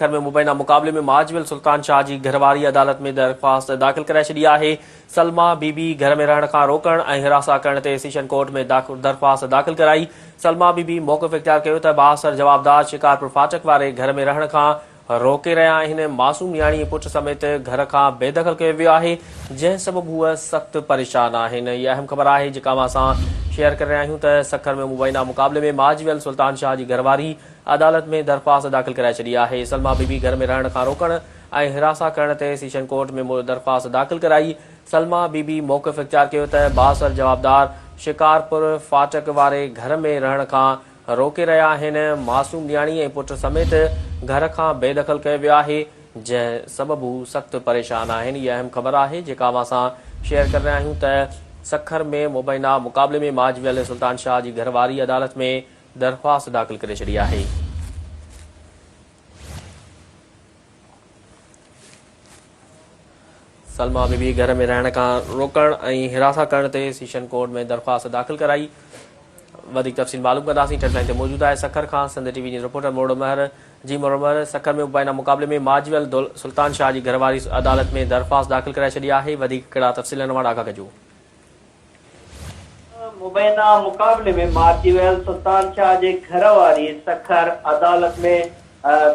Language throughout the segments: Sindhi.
ٿر ۾ مبينا مقابلي ۾ معاذ جميل سلطان شاهه جي گهر واري عدالت ۾ درخواست داخل ڪرائي ڇڏي آهي. سلميٰ بي بي گهر ۾ رهڻ کان روڪڻ ۽ هراسان ڪرڻ تي سيشن ڪورٽ ۾ درخواست داخل ڪرائي. سلميٰ بي بي موقف اختيار ڪيو ته بااثر جوابدار شڪارپور ڦاٽڪ واري گهر ۾ رهڻ کان روڪي رهيا آهن، معصوم نياڻي ۽ پٽ سميت گهر کان بي دخل ڪيو ويو آهي، جنهن سبب هو سخت پريشان آهن. هي اهم خبر آهي جيڪا اوهان سان شيئر ڪري رهيا آهيون ته سکر ۾ مبينا مقابلي ۾ معاذ جميل سلطان شاهه جي گهر واري عدالت ۾ درخواست داخل ڪرائي ڇڏي آهي، سلما بي بي گهر ۾ رهڻ کان روڪڻ ۽ حراسان ڪرڻ تي سيشن ڪورٽ ۾ مور درخواست داخل ڪرائي، سلما بي بي موقف اختيار ڪيو ته بااثر جوابدار شڪارپور ڦاٽڪ واري گهر ۾ رهڻ کان روڪي رهيا آهن، معصوم نياڻي ۽ پٽ سميت گهر کان بي دخل ڪيو ويو آهي، جنهن سبب هو سخت پريشان آهن، هيء اهم خبر آهي جيڪا اوهان سان شيئر ڪري رهيا آهيون ته سکر ۾ مبينا مقابلي ۾ ماجهه ويل سلطان شاهه جي گهر واري عدالت ۾ درخواست داخل ڪري ڇڏي آهي. سلما بي بي گهر ۾ رهڻ کان روڪڻ ۽ هراسان ڪرڻ تي سيشن ڪورٽ ۾ درخواست داخل ڪرائي وڌيڪ تفصيل معلوم ڪنداسين ٽريڊ لائين تي موجود آهي سکر کان Sindh T V news reporter مروڙو مهر جي مروڙو مهر سکر ۾ مبينا مقابلي ۾ ماجويل سلطان شاهه جي گهر واري عدالت ۾ درخواست داخل ڪرائي ڇڏي آهي وڌيڪ ڪهڙا تفصيل آهن اهڙا آگاهه ڪجو مبينا مقابلي ۾ مارجي ويل سلطان شاهه جي گهر واري سکر عدالت ۾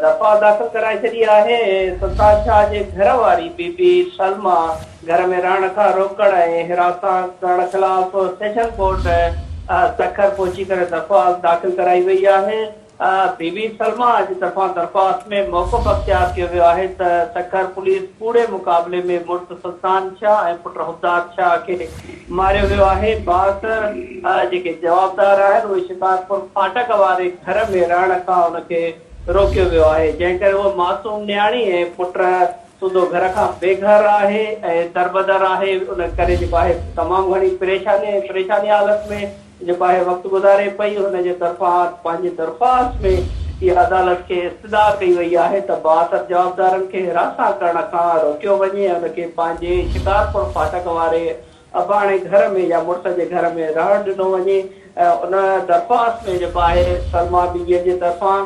دفاع داخل ڪرائي ڇڏي آهي. سلطان شاهه جي گهر واري بي بي سلميٰ گهر ۾ رهڻ کان روڪڻ ۽ حراسان ڪرڻ خلاف سيشن ڪورٽ سکر پهچي ڪري دفاع داخل ڪرائي وئي آهي. بي بي سلميٰ جي طرفان درخواست ۾ موقف اختيار ڪيو ويو آهي ته سکر پوليس ڪوڙي مقابلي ۾ مڙس سلطان شاهه ۽ پٽ حفدار شاهه کي ماريو ويو آهي باس جيڪي جوابدار آهن اهي شڪارپور ڦاٽڪ واري گهر ۾ رهڻ کان ان کي روڪيو ويو آهي جنهن ڪري هوء معصوم نياڻي ۽ پٽ سوڌو گهر کان بي گهر آهي ۽ دربدر آهي ان ڪري جيڪو آهي تمام گهڻي پريشاني ۽ پريشاني حالت ۾ جيڪو آهي وقت گذاري پئي هن جي طرفان پنهنجي درخواست ۾ اها عدالت کي استدعا ڪئي وئي آهي ته بااثر جوابدارن کي حراسان ڪرڻ کان روڪيو وڃي ۽ ان کي پنهنجي شڪارپور ڦاٽڪ واري اباڻي گهر ۾ يا مڙس جي گهر ۾ رهڻ ڏنو وڃي ۽ ان درخواست ۾ جيڪو آهي سلما بي بيء جي طرفان